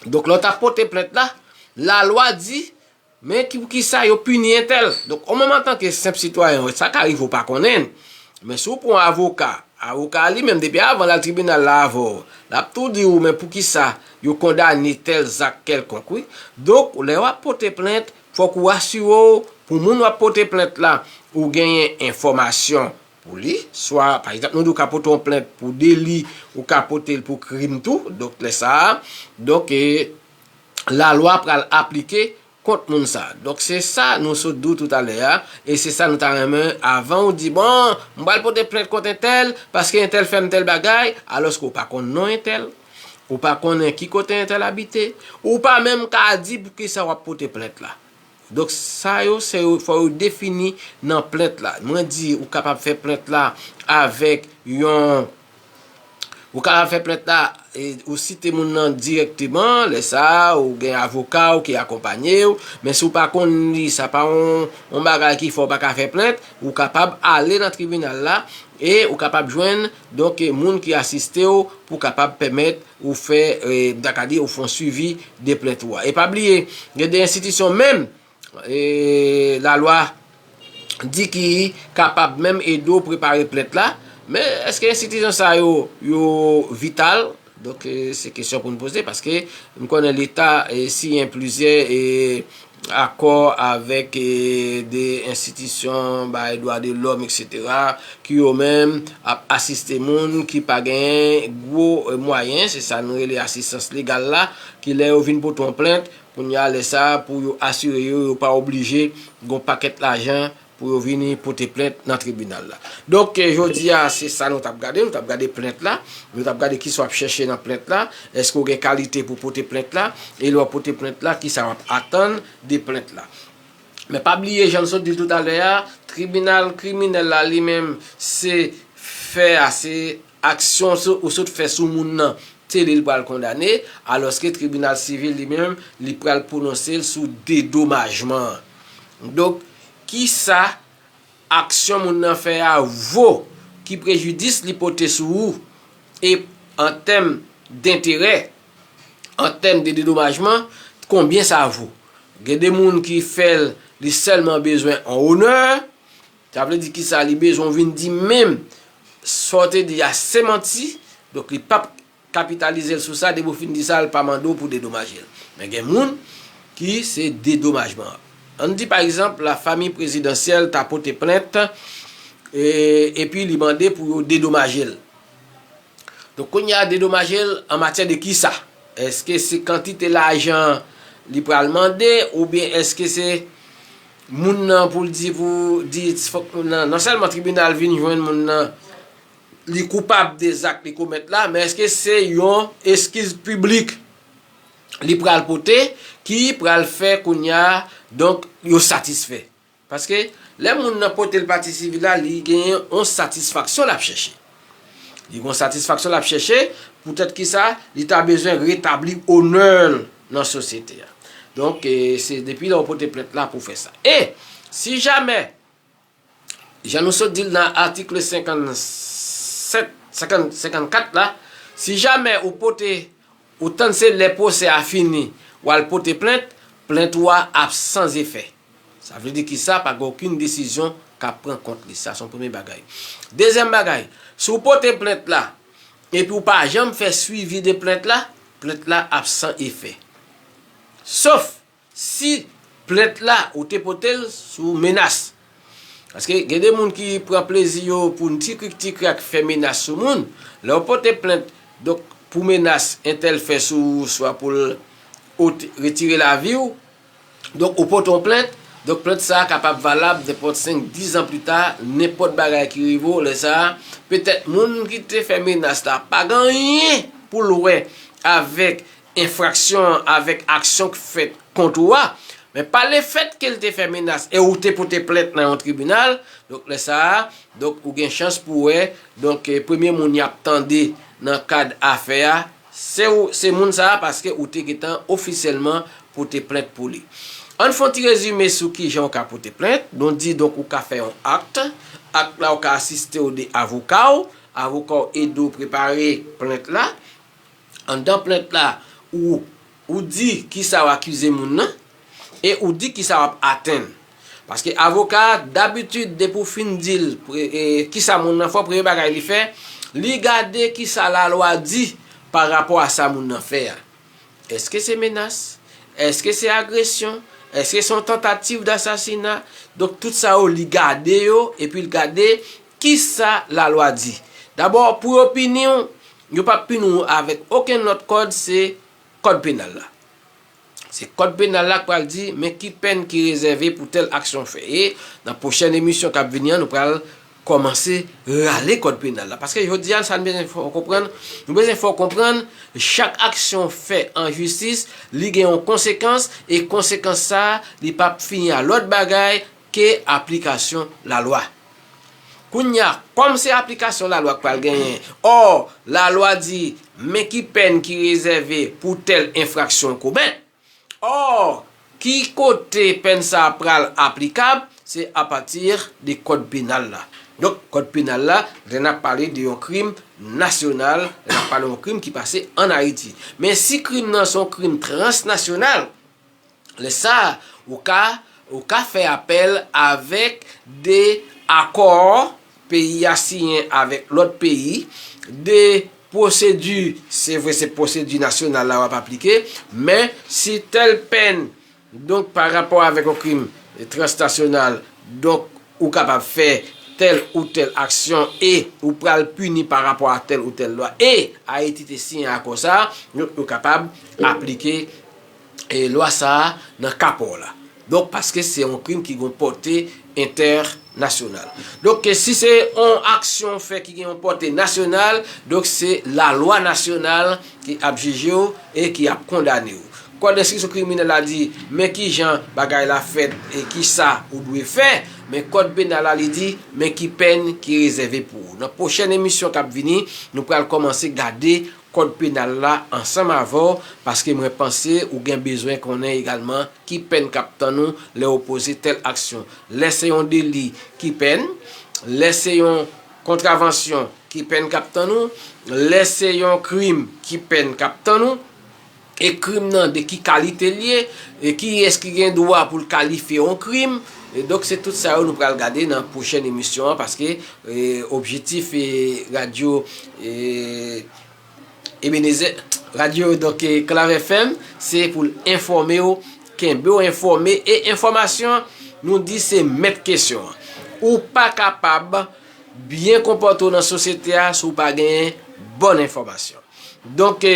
donk lè w t ap pote plent la, lalwa di, Men ki pou ki sa yo pini entèl. Donk ou menm antanke senp sitwayen ou, sa ka rive ou pa konnen. Men si ou pran yon avoka, avoka a li menm depi avan l al tribinal la avè w, l ap tou di ou men pou ki sa yo kondane tèl zak kèlkonk wi. Donk lè w ap pote plent, fòk ou asire w pou moun w ap pote plent la, ou genyen enfòmasyon pou li. Swa pa egzanp nou di ou ka pote yon plent pou deli, ou ka pote l pou krim tou. Donk lè sa a, donk e. la lwa pral aplike kont moun sa. Donk se sa nou sot di w tout alè a e se sa nou ta renmen avan w di bon m pral pote plent kont entèl paske entèl fè m tèl bagay alòske w pa konn non entèl, ou pa konnen ki kote entèl abite, ou pa menm ka di poukisa w ap pote plent la. Donk sa yo se yo fò yo defini nan plent la. Mwen di ou kapab fè plent la avèk yon ou kapab fè plent la ou site moun nan dirèkteman lè sa a ou gen avoka ou ki akonpanye ou men si ou pa konn li sa pa yon bagay ki fè ou pa ka fè plent ou kapab ale nan tribinal la e ou kapab jwenn Donk moun ki asiste w pou kapab pèmèt ou fè, m ta ka di, ou fè yon swivi de plent ou a. E pa bliye, gen de enstitisyon menm, lalwa di ki kapab menm ede w prepare plent la, men èske enstitisyon sa yo, yo vital? Donk se kesyon pou nou poze paske nou konnen leta siyen plizyè akò avèk de enstitisyon bay dwa de lòm etc. Ki yo menm ap asiste moun ki pa gen gwo mwayen se sa nou rele asistans legal la ki lè yo vin pote yon plent kounye a lè sa pou yo asire yo yo pa oblije gen yon pakèt lajan Pou yo vini pote plent nan tribinal la. Donk, jodi a, se sa nou t ap gade. Nou t ap gade plent la. Nou t ap gade ki sa w ap chèche nan plent la. Èske w gen kalite pou w pote plent la? E lè w pote plent la, ki sa w ap atann de plent la? Men pa bliye, jan nou sot di l toutalè a, tribinal kriminèl la li menm, se fè a, se. Aksyon ou sot fè sou moun nan se li l pral kondane, alòske tribinal sivil li menm li pral pwononse l sou dedomajman an. Donk, ki sa aksyon moun nan fè a vo, ki prejidis li pote sou ou, e an tèm denterè, an tèm de dedomajman, konbyen sa vo. Gen de moun ki fè l, li sèlman bezwen on onè, Sa vle di kisa li bezwen w vin di menm sa w te di a se manti donk li pap kapitalize l sou sa depi w fin di sa l pa mande w pou dedomaje l men gen moun ki se dedomajman an an n di pa egzanp la famiy prezidansyèl ta pote plent epi li mande pou yo dedomaje l donk kounye a dedomaje l an matyè de kisa èske se kantite lajan li pral mande oubyen èske se. Moun nan poul di pou Dietz fòk moun nan non sèlman tribinal vin jwenn moun nan li koupab de zak li komèt la men eske se yon eskiz piblik li pral pote ki pral fè kounya donk yo satisfè paske lè moun nan potel pati sivil la li genyen yon satisfaksyon lap chèche. Li gon satisfaksyon lap chèche, poutèt kisa li ta bezwen retabli onè l nan sosyete a. Donk, se depi lè ou pote plent la pou fè sa. E, si jamè, jan nou sot di l nan atikle 57, 54 la, si jamè ou pote, ou tann se lè pwosè a fini, wal pote plent, plent ou a ap san zefè. Sa vle di kisa? Pa gen okenn desizyon k ap pran kont li. Sa se yon premye bagay. Dezyèm bagay, si w pote plent la epi w pa janm fè swivi de plent la, plent la ap san efè. Sof si plent la ou te pote l sou menas. Paske gen de moun ki pran plezi yo pou yon ti krik ti krak fè menas sou moun. Lè w pote plent pou menas entèl fè sou ou swa pou l retire lavi w, Donk, ou pote yon plent, donk plent sa a kapab valab nenpòt senk, dis an pli ta, nenpòt bagay ki rive ou lè sa a, petèt moun ki te fè menas la pa gen anyen pou l wè avèk enfraksyon an, avèk aksyon k fèt kont ou a, men pa le fèt ke l te fè menas e ou te pote plent nan yon tribinal, donk lè sa a, donk ou gen chans pou wè, donk premye moun y ap tande nan kad afè a, Se ou se moun sa a paske ou te gentan ofisyèlman pote plent pou li. Ann fon ti rezime sou kijan ou ka pote plent, nou di donk ou ka fè yon akt, akt la ou ka asiste ou de avoka ou, avoka ou ede ou prepare plent la, anndan plent la ou Ou di kisa w akize moun nan, e ou di kisa w ap atenn. Paske avoka a, dabitid depi w fin di l kisa moun nan fè, premye bagay li fè, li gade kisa lalwa di pa rapò a sa moun nan fè a. Eske se menas? Eske se agresyon? Eske se yon tantativ dasasina? Donk tout sa yo li gade yo, epi l gade Ki sa lalwa di? Dabò, pou yo pini w, yo pap pini w avèk okenn lòt kòd, se Kòd Penal la. Se Kòd Penal la k pral di men ki pèn ki rezève pou tèl aksyon w fè. E, nan pwochèn emisyon k ap vini an, nou pral kòmanse rale Kòd Penal la. Paske jodi a, sa n bezwen fè w konprann, nou bezwen fè w konprann, chak aksyon w fè an jistis, li gen yon konsekans, e konsekans sa a, li pap fini a lòt bagay, ke aplikasyon lalwa. Kounya, kòm se aplikasyon lalwa k pral genyen, ò, lalwa di, men ki pèn ki rezève pou tèl enfraksyon w komèt, ò, ki kote pèn sa a pral aplikab, se apati de kòd penal la. Donk, kòd penal la, lè n ap pale de yon krim nasyonal, lè n ap pale yon krim ki pase an Ayiti. Men si krim nan se yon krim transnasyonal, Lè sa a, ou ka ou ka fè apèl avèk de akò peyi a siyen avèk lòt peyi, de pwosedi, se vre se pwosedi nasyonal la w ap aplike, men si tèl pèn donk pa rapò avèk yon krim transnasyonal, donk ou kapab fè tèl ou tèl aksyon e ou pral pini pa rapò a tèl ou tèl lwa e Ayiti te siyen akò sa a, donk yo kapab aplike lwa sa a nan ka pa w la. Donk, paske se yon krim ki gen yon pòte entènasyonal. Donk, si se yon aksyon ou fè ki gen yon pòte nasyonal, donk se lalwa nasyonal ki ap jije w e ki ap kondane w. Kòd enstriksyon kriminèl la di men ki jan bagay la fèt e ki sa ou dwe fè, men kòd penal la li di men ki pèn ki rezève pou ou. Nan pwochèn emisyon k ap vini, nou pral kòmanse gade Kòd Penal la ansanm avè w paske mwen panse ou gen bezwen konnen egalman ki pèn k ap tann ou lè ou poze tèl aksyon. Lè se yon deli, ki pèn? Lè se yon kontravansyon, ki pèn k ap tann ou? Lè se yon krim, ki pèn k ap tann ou? E krim nan de ki kalite l ye, e kiyès ki gen dwa pou l kalifye yon krim, e donk se tout sa yo nou pral gade nan pwochèn emisyon an paske objetif radyo Ebenezè radyo donk Clave FM se pou l enfòme w, kenbe w enfòme e enfòmasyon nou di se mèt kesyon an. Ou pa kapab byen konpòte w nan sosyete a si w pa genyen bòn enfòmasyon. Donk e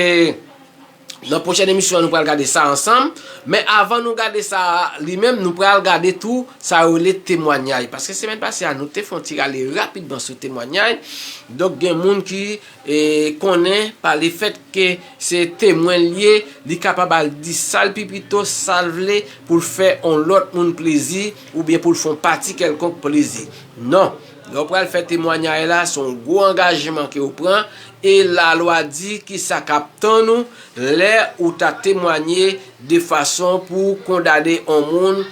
nan pwochèn emisyon nou pral gade sa ansanm, men avan nou gade sa li menm nou pral gade tou sa yo rele temwanyay paske semèn pase a nou te fon ti rale rapidman sou temwanyay donk gen moun ki e konnen pa le fèt ke se temwen li ye li kapab al di sa l pi pito sa l vle pou l fè on lòt moun plezi oubyen pou l fon pati kèlkonk plezi non. Lè w pral fè temwanyay la, se yon gwo angajman ke w pran, e lalwa di ki sa k ap tann ou lè ou ta temwanye de fason pou w kondane yon moun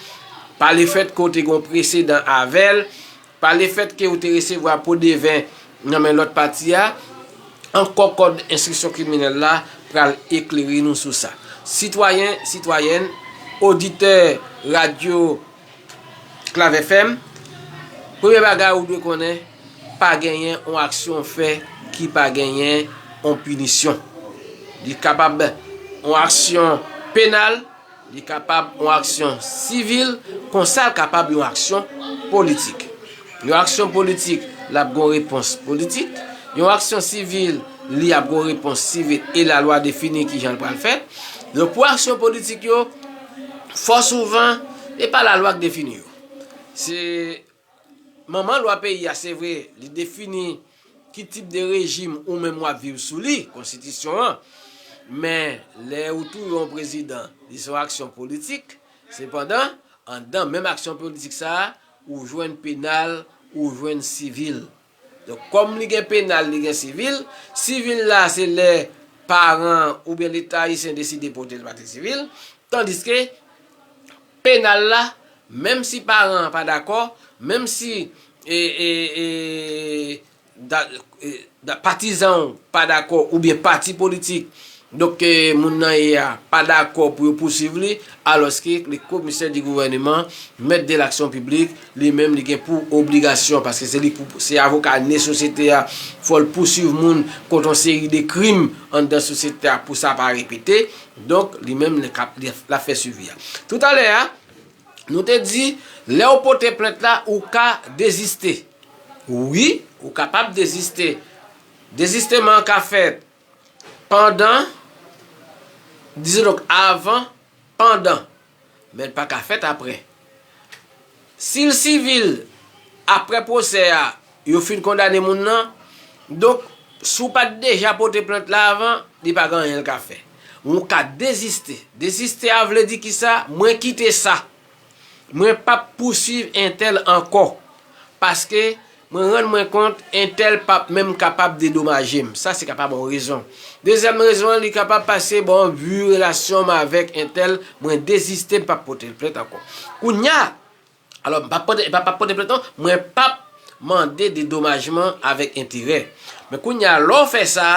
palefèt ke w te gen yon presedan avè l, palefèt ke ou te resevwa po de ven nan men lòt pati a, ankò kòd enstriksyon kriminèl la pral eklere nou sou sa. Sitwayen, sitwayèn, oditè radyo. Clave FM, Premye bagay ou dwe konnen, pa genyen yon aksyon ou fè ki pa genyen yon pinisyon. Li kapab yon aksyon penal, li kapab yon aksyon sivil, konsa l kapab yon aksyon politik. Yon aksyon politik, l ap gen yon repons politik. Yon aksyon sivil, li ap gen yon repons sivil e lalwa defini kijan l pral fèt. Donk pou aksyon politik yo. Fò souvan, e pa lalwa k defini yo. Se Manman lwa peyi a, se vre, li defini ki tip de rejim ou menm w ap viv sou li, konstitisyon an, men lè ou touye yon prezidan, li se yon aksyon politik, sepandan, anndan menm aksyon politik sa a, ou jwenn penal, ou jwenn sivil. Donk kòm li gen penal li gen sivil, sivil la se lè paran oubyen leta ayisyen deside pote l pa ti sivil, tandiske penal la menm si paran an pa dakò, menm si patizan ou pa dakò oubyen pati politik Donk ke moun nan ye a pa dakò pou yo pousuiv li, alòske le Commissaire du Gouvernement, Maître de l'Action Publique, li menm li gen pou obligasyon, paske se li pou, se avoka ne sosyete a, fò l pousuiv moun kont yon seri de krim anndan sosyete a pou sa pa repete, donk li menm li ka, l ap fè suivi a. Tout a lè a, nou te di, lè ou pote plent la, ou ka deziste. Wi, ou kapab deziste. Dezisteman an ka fèt Pandan, Dizodonk, avan, pandan, men l pa ka fèt apre. Si l sivil, apre pwosè a, yo fin kondane moun nan, donk, si w pa t deja pote plent la avan, li pa gen anyen l ka fè. Men w ka deziste. Deziste a vle di ki sa? Mwen kite sa. Mwen pap pouswiv entèl ankò paske mwen rann mwen kont entèl pap menm kapab dedomaje m. Sa se kapab yon rezon. Dezyèm rezon an li kapab pase bon vi relasyon m avèk entèl mwen deziste m pap pote l plent ankò. Kounya, alò m pap pote m pap pote plent non, mwen pap. mande dedomajman avèk enterè. Men kounye a lè w fè sa,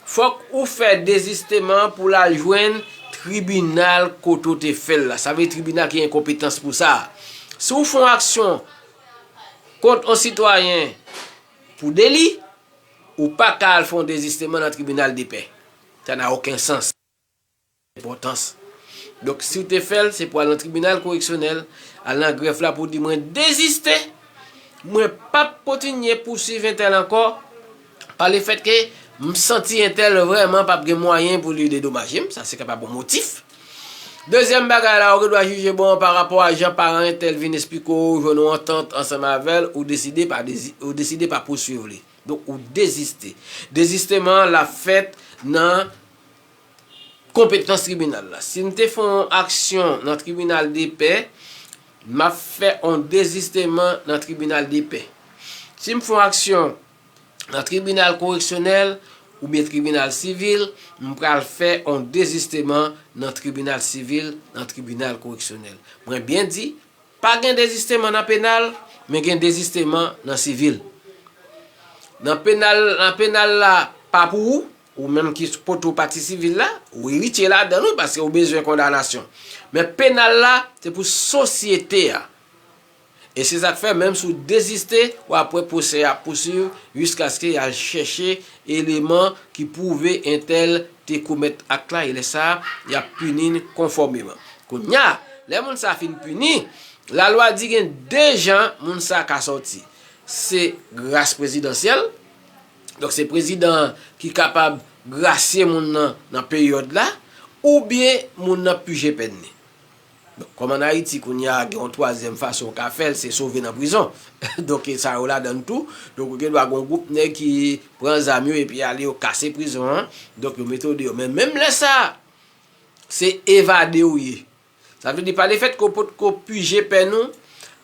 fòk ou fè dezisteman pou l al jwenn tribinal kote w te fè l la. Sa vle di tribinal ki gen konpetans pou sa. Si w fè yon aksyon kont yon sitwayen pou deli, ou pa ka al fè yon dezisteman nan tribinal depè. Sa nan oken sans. Enpòtans. Donk, si w te fè l, se pou w al nan tribinal koreksyonèl, al nan grèf la pou w di mwen deziste, mwen p ap kontinye pousuiv entèl ankò, pa le fèt ke m santi entèl vrèman p ap gen mwayen pou li dedomaje m, sa se kapab yon motif. Dezyèm bagay la, ou gen dwa jije bon pa rapò a jan paran entèl vin esplike w, ou jwenn yon antant ansanm avè l, ou deside pa ou deside pa pousuiv li. Donk, ou deziste. Dezisteman an l ap fèt nan. Konpetans tribinal la. Si m te fè yon aksyon nan tribinal depè, m ap fè yon dezisteman nan tribinal depè. Si m fè yon aksyon nan tribinal koreksyonèl oubyen tribinal sivil, m pral fè yon dezisteman nan tribinal sivil, nan tribinal koreksyonèl. Mwen byen di, pa gen dezisteman nan penal, men gen dezisteman nan sivil. Nan penal la pa pou ou. Ou menm ki sou kote ou pati sivil la, ou eritye ladan l wi paske ou bezwen kondanasyon. Men penal la se pou sosyete a. E se sa k fè menm si w deziste, w ap wè pwosè a ap pousuiv jiskaske y al chèche eleman ki pwouve entèl te komèt ak la e lè sa a, y ap pini l konfòmeman. Kounye a, lè moun sa a fin pini, lalwa di gen de jan moun sa a ka sòti. Se gras prezidansyèl. Donk se prezidan an ki kapab grasye moun nan nan peryòd la oubyen moun nan pije pèn li. Bon, kòm ann Ayiti kounye a gen yon twazyèm fason ou ka fè l, se sove nan prizon. Donk e sa yo ladan l tou. Donk ou gen dwa gen yon gwoup nèg ki pran zam yo epi ale yo kase prizon an. Donk yo mete w deyò. Men menm lè sa a, se evade ou ye. Sa vle di pa le fèt ke w potko pije pèn ou,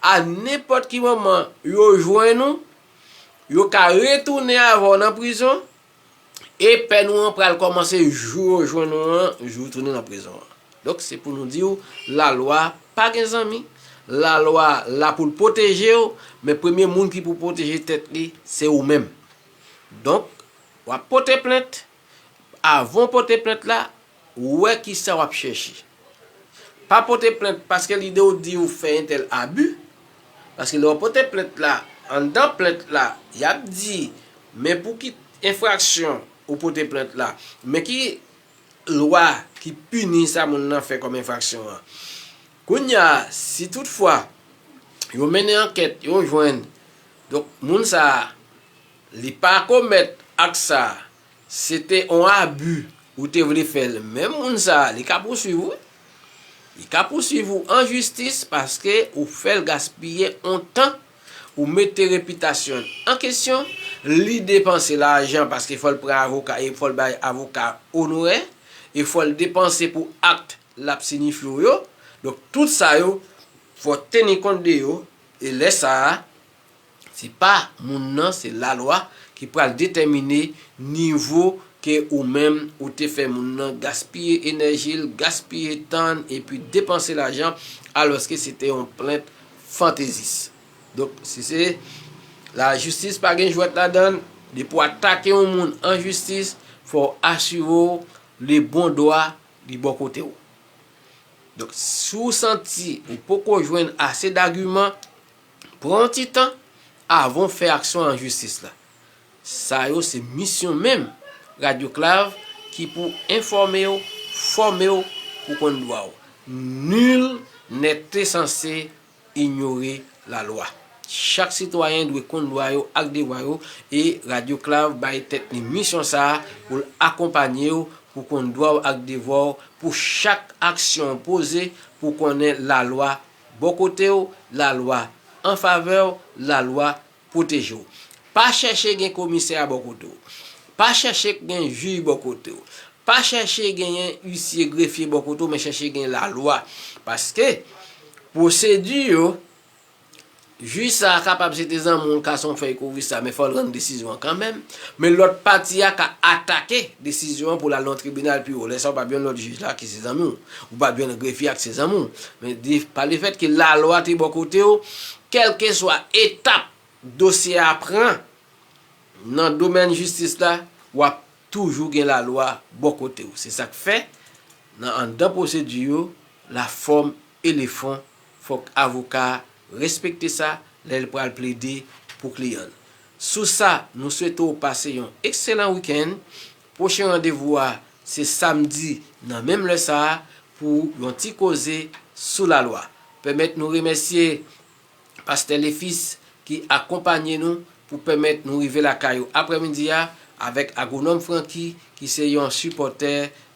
a nenpòt ki moman yo jwenn ou, yo ka retounen avè w nan prizon, e pèn ou an pral kòmanse jou yo jwenn ou an, jou ou tounen nan prizon an. Donk se pou nou di w, lalwa pa gen zanmi, lalwa la pou l pwoteje w, men premye moun ki pou pwoteje tèt li, se ou menm. Donk, w ap pote plent. Avan w pote plent la, wè ki sa w ap chèche. Pa pote plent paske lide w di ou fè entèl abi, paske lè w pote plent la, anndan plent la, y ap di, men pou ki enfraksyon ou pote plent la, men ki lwa ki pini sa moun nan fè kòm enfraksyon an. Kounya a, si tout fwa yo mennen ankèt, yo jwenn, donk moun sa a, Li pa komèt ak sa se te on abu ou te vle fèl menm moun sa li ka pouswiv ou li ka pouswiv ou an jistis paske ou fèl gaspiye on tan ou mete repitasyonl an kesyon li depanse lajan paske fòl pran avoka e fòl bay avoka onorè e fòl depanse pou akt lap sinifye ou yo donk tout sa yo fò teni kont de yo e lè sa. Se pa moun nan se lalwa ki pral detèmine nivo ke ou menm ou te fè moun nan gaspiye enèjil, gaspiye tann epi depanse lajan alòske se te yon plent fantezis. Donk si se lajistis pa gen jwèt ladann, depi w atake yon moun an jistis fò w asire w le bon dwa li bò kote w. Donk si w santi ou poko jwenn ase dagiman, Pran yon ti tan avan w fè aksyon an jistis la. Sa yo se misyon menm Radyo Klav ki pou enfòme w, fòme w pou w konn dwa w. Nul n'est censé ignorer la loi. Chak sitwayen dwe konn dwa yo ak devwa yo e Radyo Klav bay tèt li misyon sa a pou l akonpanye w pou w konn dwa w ak devwa w pou chak aksyon w poze pou w konnen lalwa Bò kote w, lalwa an favè w, lalwa pwoteje w. Pa chèche gen komisè a bò kote w. Pa chèche gen jij bò kote w. Pa chèche genyen isye, grefye bò kote w men chèche gen lalwa. Paske pwosedi yo. Jij sa a kapab se te zanmi w l ka se yon fèy kouvri sa men fò l rann desizyon an kanmenm, men lòt pati a ka atake desizyon an pou l al nan yon tribinal pi wo, lè sa w pa p jwenn lòt jij la ki se zanmi w, ou pa p jwenn grefye a ki se zanmi w, men pa le fèt ke lalwa te bò kote w, kèlkeswa etap dosye a pran nan domèn jistis la, w ap toujou gen lalwa bò kote w, se sa k fè nan anndan pwosedi yo, la fòm e le fon. Fòk avoka a respekte sa lè l pral plede pou kliyan l. Sou sa, nou swete w pase yon ekselan wikenn. Pwochen randevou a se samdi nan menm lè sa a pou yon ti koze sou lalwa. Pèmèt nou remèsye Pastè Lefis ki akonpanye nou pou pèmèt nou rive lakay ou aprèmidi a avèk Agwonòm Franky ki se yon sipòtè